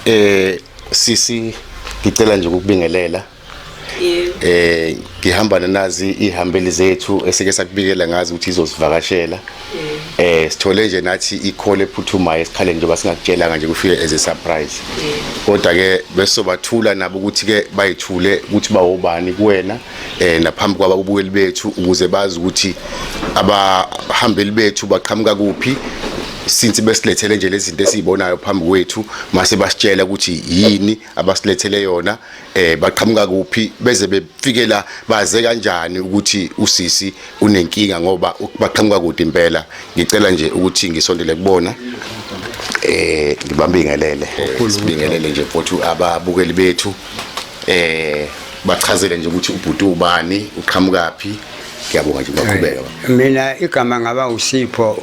eh sisi ngicela nje ukubingelela eh ngihamba nenazi ihambeli zethu esike sakubikela ngazi ukuthi izosivakashela eh sithole nje nathi ikhole ephuthumayo esikhale njengoba singakutshelanga nje kufike as a surprise kodwa ke besobathula nabo ukuthi ke bayithule ukuthi bawobani kuwena eh naphambi kwaba kubukeli bethu ukuze bazi ukuthi abahambeli bethu baqhamuka kuphi since besilethele nje lezi zinto esizibonayo phambi kwethu mase basitshela ukuthi yini abasilethele yona eh baqhamuka kuphi beze befikela baze kanjani ukuthi usisi unenkinga ngoba baqhamuka kude impela ngicela nje ukuthi ngisondele kubona eh ngibambingelele sibingelele nje futhi ababukeli bethu eh bachazele nje ukuthi ubhuti ubani uqhamukaphi ngiyabonga nje baqhubeka mina igama ngaba usipho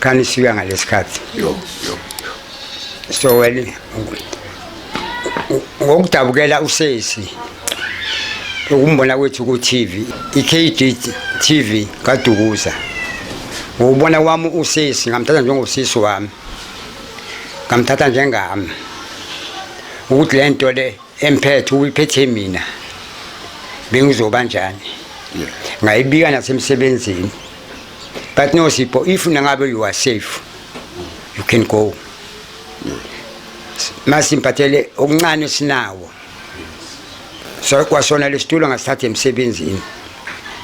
Khani sika ngalesikhathi. Yo yo. So wena ngokudabukela usesi ukumbona kwethu ku TV iKD TV kaDukuza ngubona wami usisi ngamthatha njengosisi wami ngamthatha njengami ukuthi lento le emphethe uyiphethe mina bengizoba njani ngayibika nasemsebenzini but no sipho if nangabe you are safe you can go masimphathele okuncane sinawo so kwasona lesitulo ngasithatha emsebenzini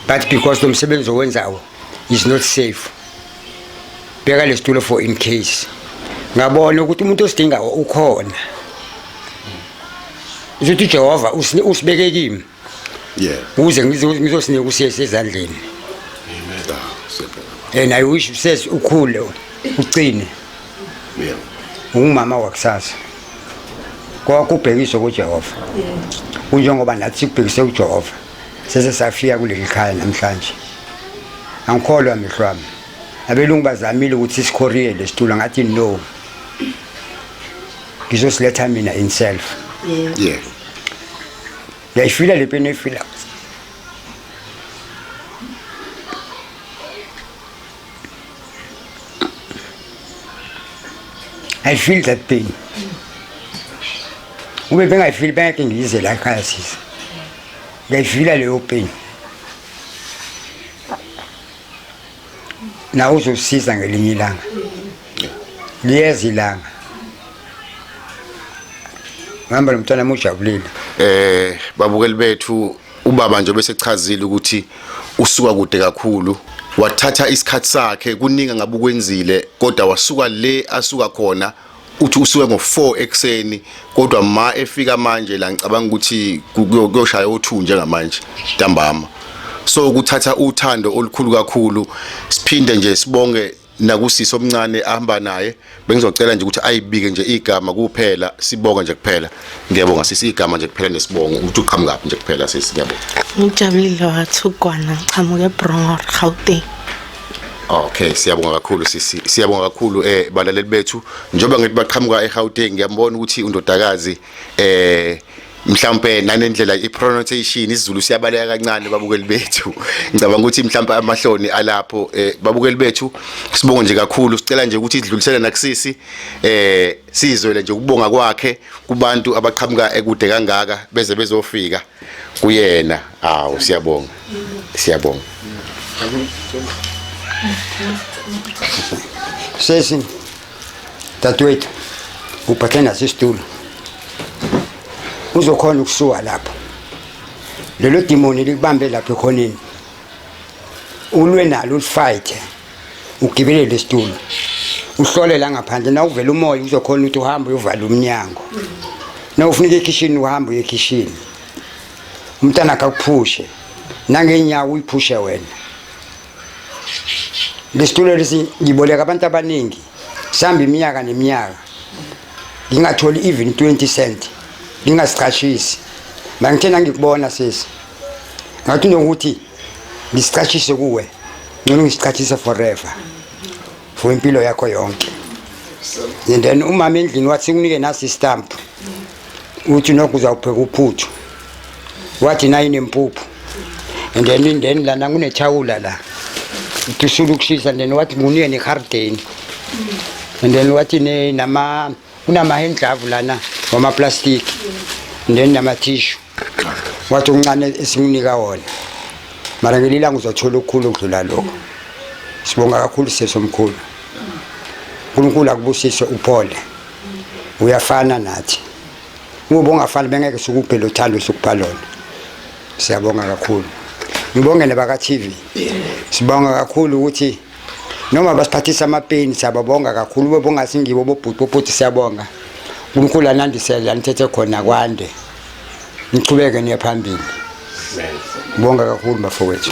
but because lo msebenzi owenzawo is not safe beka lesitulo for in case ngabona ukuthi umuntu osidinga ukhona uzothi uJehova usibeke kimi yeah ukuze ngizosinika usiyese ezandleni amen and i wish usesi ukhule ucine yeah ungumama wakusasa kwakubhekiswe kuJehova kunjengoba nathi sikubhekise kuJehova Sese safika kuleli khaya namhlanje. Angikholwa mihlwami. Abelungu bazamile ukuthi sikhoriye lesitulo ngathi no. Ngizosiletha mina in self. Yeah. Yeah. Yayifila le peni efila. I feel that pain. Ube bengayifili bengeke ngiyize la ekhaya sisi. Ngiyayifila leyo pain. Na uzosiza ngelinye ilanga. Liyeza ilanga. Ngihamba nomntwana mujabulile. Eh babukeli bethu Ubaba nje bese chazile ukuthi usuka kude kakhulu wathatha isikhathi sakhe kuningi ngabukwenzile kodwa wasuka le asuka khona uthi usuke ngo4 ekseni kodwa ma efika manje la ngicabanga ukuthi kuyoshaya o2 njengamanje ntambama so ukuthatha uthando olukhulu kakhulu siphinde nje sibonge nakusisi omncane ahamba naye bengizocela nje ukuthi ayibike nje igama kuphela sibonga nje kuphela ngiyabonga sisi igama nje kuphela nesibongo ukuthi uqhamukaphi nje kuphela sisi ngiyabonga ngijabulile wathugwana ngiqhamuke eBrongor Gauteng Okay siyabonga kakhulu sisi siyabonga kakhulu eh balaleli bethu njengoba ngithi baqhamuka eGauteng ngiyambona ukuthi undodakazi eh mhlawumbe nanendlela ipronunciation isiZulu siyabaleka kancane babukeli bethu ngicabanga ukuthi mhlawumbe amahloni alapho eh, babukeli bethu sibonge nje kakhulu sicela nje ukuthi idlulisele nakusisi eh sizwele nje ukubonga kwakhe kubantu abaqhamuka ekude kangaka beze bezofika kuyena hawu siyabonga siyabonga sesi dadewethu uphathe naso isitulo uzokhona ukusuka lapho lelo dimoni likubambe lapho ekhoneni ulwe nalo ulifayithe ugibele lesitulo uhlole la ngaphandle na uvela umoya uzokhona ukuthi uhambe uyovala umnyango na ufuna uye ekhishini uhambe uye ekhishini umntana akakuphushe nangenyawo uyiphushe wena Ngesitulo lesi ngiboleka abantu abaningi sihamba iminyaka neminyaka ngingatholi even 20 cent ngingasichashisi mangithe nangikubona sisi ngathi nokuthi ngisicashise kuwe ngcono ngisichashise forever for impilo yakho yonke and then umama endlini wathi kunike nasi stamp uthi nokho uzawupheka uphuthu wathi nayi nempuphu and then indeni lana kunethawula la uthi usula ukushisa and then wathi ngunike nehardeni and then wathi ne- nama kunama-hand glove lana wamaplastiki and then namathishu wathi uncane esimunika wona mara ngelinye ilanga uzothola okukhulu okudlula lokho sibonga kakhulu sisi omkhulu unkulunkulu akubusise uphole uyafana nathi ngoba ungafani bengeke sukuphe lo thando sukupha lona siyabonga kakhulu ngibonge nebaka-tv sibonga kakhulu ukuthi noma basiphathisa amapeni siyababonga kakhulu bebonga singibo bobhuti bobhuti siyabonga unkulunkulu anandisele anithethe khona kwande nichubeke niye phambili bonga kakhulu bafowethu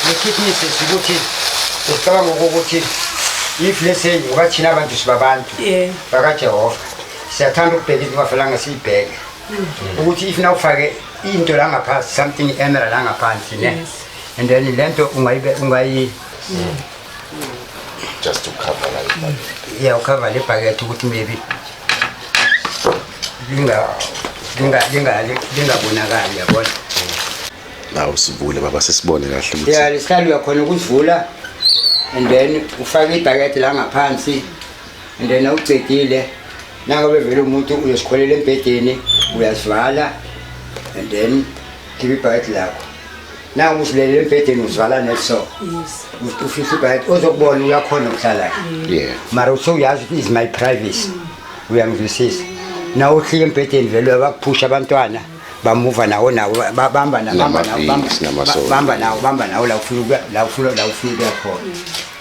ngikhiphiise ukuthi usicabanga ukuthi if let's say ungathina abantu sibabantu bakajehova siyathanda ukubheka into ungafelanga siyibheke ukuthi if na ufake into la ngaphansi something emerald la ngaphansi ne and then le nto ungayibe ungayi just to cover la ibhakethi yeah ukhava le bhakethi ukuthi maybe linga linga linga lingabonakali yabona nawu sivule baba sisibone kahle ukuthi yeah lesihlalo uyakhona ukuvula and then ufake ibhakethi la ngaphansi and then awucedile nako bevele umuntu uyosikholela embhedeni uyazivala and then khipha ibhakede lakho naku usilele embhedeni uzivala neso ufihla ibhakede ozokubona uyakhona ukuhlala mara use uyazi ukuthi is my privacy mm. uyangizwisisa na uhlike embhedeni vele uyabakuphusha abantwana bamuva nawo nawo bamba nawo bamba nawo bamba nawo la ufuna la ufuna la ufuna ukuya khona mm.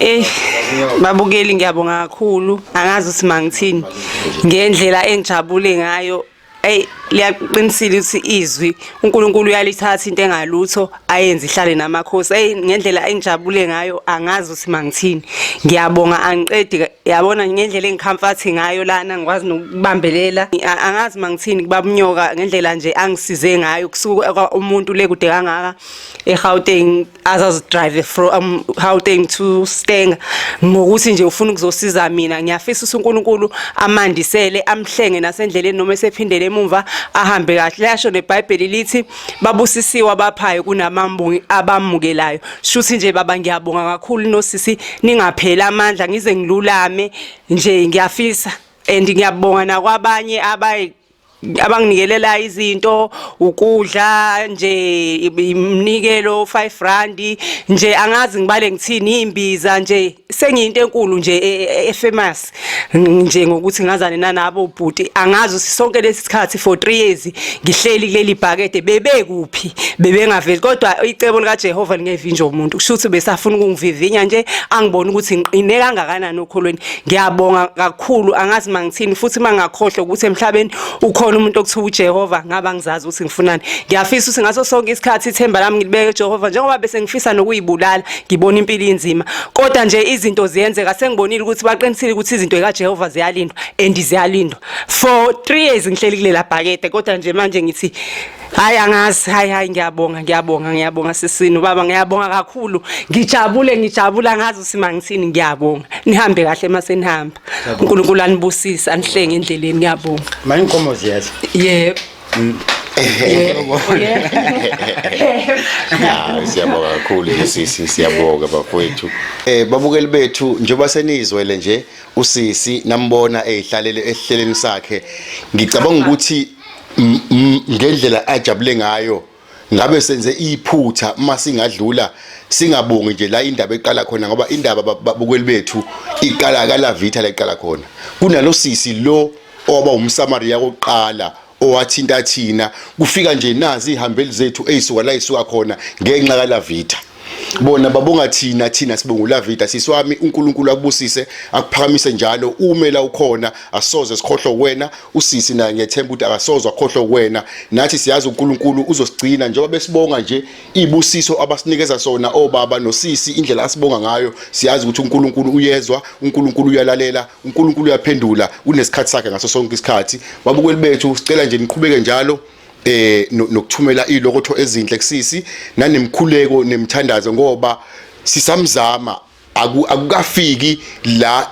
Eh babukeli ngiyabonga kakhulu angazi ukuthi mangithini ngendlela engijabule ngayo ey liyaqinisile ukuthi izwi uNkulunkulu uyalithatha into engalutho ayenze ihlale namakhosi ey ngendlela engijabule ngayo angazi ukuthi mangithini ngiyabonga angiqedi yabona ngendlela engikhamfathi ngayo lana ngikwazi nokubambelela angazi mangithini kubabunyoka ngendlela nje angisize ngayo kusuka umuntu le kude kangaka eGauteng azazidrive from Gauteng um, to Stenga ngokuthi nje ufuna ukuzosiza mina ngiyafisa uNkulunkulu amandisele amhlenge nasendleleni noma esephindele emumva ahambe kahle yasho neBhayibheli lithi babusisiwe abaphayo kunamambungi abamukelayo shuthi nje baba ngiyabonga kakhulu nosisi ningapheli amandla ngize ngilulame nje ngiyafisa and ngiyabonga nakwabanye abayi abanginikelela izinto ukudla nje imnikelo 5 rand nje angazi ngibale ngithini imbiza nje sengiyinto enkulu nje e, e, e, efamous nje ngokuthi ngazane nanabo bhuti angazi sonke lesi sikhathi for 3 years ngihleli kuleli bhakede bebekuphi bebengaveli kodwa icebo lika Jehova lingevinja umuntu kusho ukuthi besafuna ukungivivinya nje angibona ukuthi ngiqine kangakanani okholweni ngiyabonga okukhulu angazi mangithini futhi mangakhohlwa ukuthi emhlabeni ukhona umuntu okuthiwa uJehova ngaba ngizazi ukuthi ngifunani ngiyafisa ukuthi ngaso sonke isikhathi ithemba lami ngilibeke uJehova njengoba bese ngifisa nokuyibulala ngibona impilo inzima kodwa nje izinto ziyenzeka sengibonile ukuthi baqinisile ukuthi izinto zikaJehova ziyalindwa and ziyalindwa for 3 years ngihleli kulela bhakede kodwa nje manje ngithi Hayi angazi hayi hayi ngiyabonga ngiyabonga ngiyabonga sisini baba ngiyabonga kakhulu ngijabule ngijabule angazi usima ngithini ngiyabonga nihambe kahle masenihamba uNkulunkulu anibusise anihlenge endleleni ngiyabonga manje inkomo ziyadla yebo mm. siyabonga kakhulu sisi siyabonga bafowethu eh babukeli bethu njengoba senizwele nje usisi nambona ehlalele esihleleni sakhe ngicabanga ukuthi ngendlela ajabule ngayo ngabe senze iphutha uma singadlula singabongi nje la indaba eqala khona ngoba indaba babukeli bethu iqala kala vitha leqala khona kunalosisi lo oba umsamaria koqala owathinta thina kufika nje nazi ihambeli zethu eyisuka la isuka khona ngenxa kala vitha bona babonga thina thina sibongula vida sisi wami uNkulunkulu akubusise akuphakamise njalo ume la ukhona asoze sikhohlwe wena usisi naye ngiyethemba ukuthi akasoze akhohlwe wena nathi siyazi uNkulunkulu uzosigcina njengoba besibonga nje ibusiso abasinikeza sona obaba nosisi indlela asibonga ngayo siyazi ukuthi uNkulunkulu uyezwa uNkulunkulu uyalalela uNkulunkulu uyaphendula unesikhathi sakhe ngaso sonke isikhathi babukeli bethu sicela nje niqhubeke njalo eh nokuthumela ilokotho ezinhle kusisi nanemkhuleko nemthandazo ngoba sisamzama akukafiki la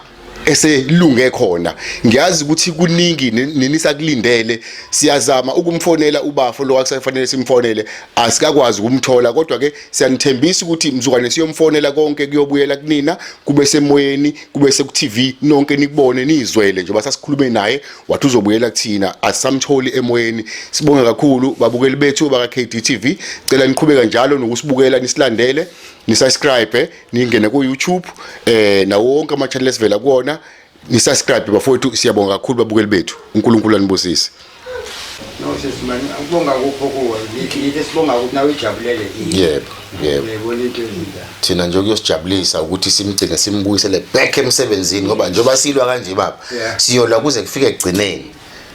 eselunge khona ngiyazi ukuthi kuningi ninisakulindele siyazama ukumfonela ubafo lo akusafanele simfonele asikakwazi ukumthola kodwa ke siyanithembisa ukuthi mzukwane siyomfonela konke kuyobuyela kunina kube semoyeni kube seku TV nonke nikubone nizwele njengoba sasikhulume naye wathi uzobuyela kuthina asamtholi emoyeni sibonge kakhulu babukeli bethu baka KDTV cela niqhubeka njalo nokusibukela nisilandele nisubscribe ningene ku YouTube eh nawo wonke ama channel esivela kuona nisubscribe bafowethu siyabonga kakhulu babukeli bethu uNkulunkulu anibusise No sisi man akubonga kupho kuwe ngithi sibonga ukuthi nawe ijabulele yebo yebo thina nje kuyosijabulisa ukuthi simgcine simbuyisele back emsebenzini ngoba njengoba silwa kanje baba siyolwa kuze kufike ekugcineni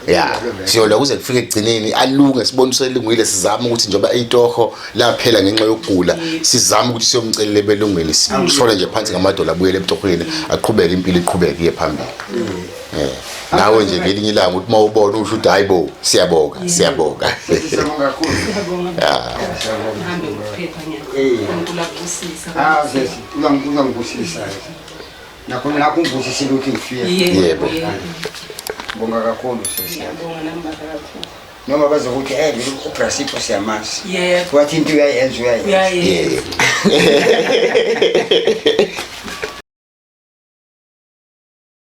ya siyolwa kuze kufike ekugcineni alunge sibone uselungile sizama ukuthi njengoba itoho laphela ngenxa yokugula sizama ukuthi siyomcelela ebelungweni sishole nje phansi ngamadola abuyele etohweni aqhubeke impilo iqhubeke iye phambili mm. Eh, nawe nje ngelinye ilanga uthi mawubona usho ukuthi hayibo siyabonga siyabonga siyabonga kakhulu siyabonga hambe ukuphepha ngiyakubusisa ah yes ungangibusisa nakho nakho ungibusisa ukuthi ngifike yebo bonga kakhulu sesiyabonga nambaka kakhulu noma bazokuthi hey eh, ubrasipho siyamazi yebo wathi into uyayenza uyayenza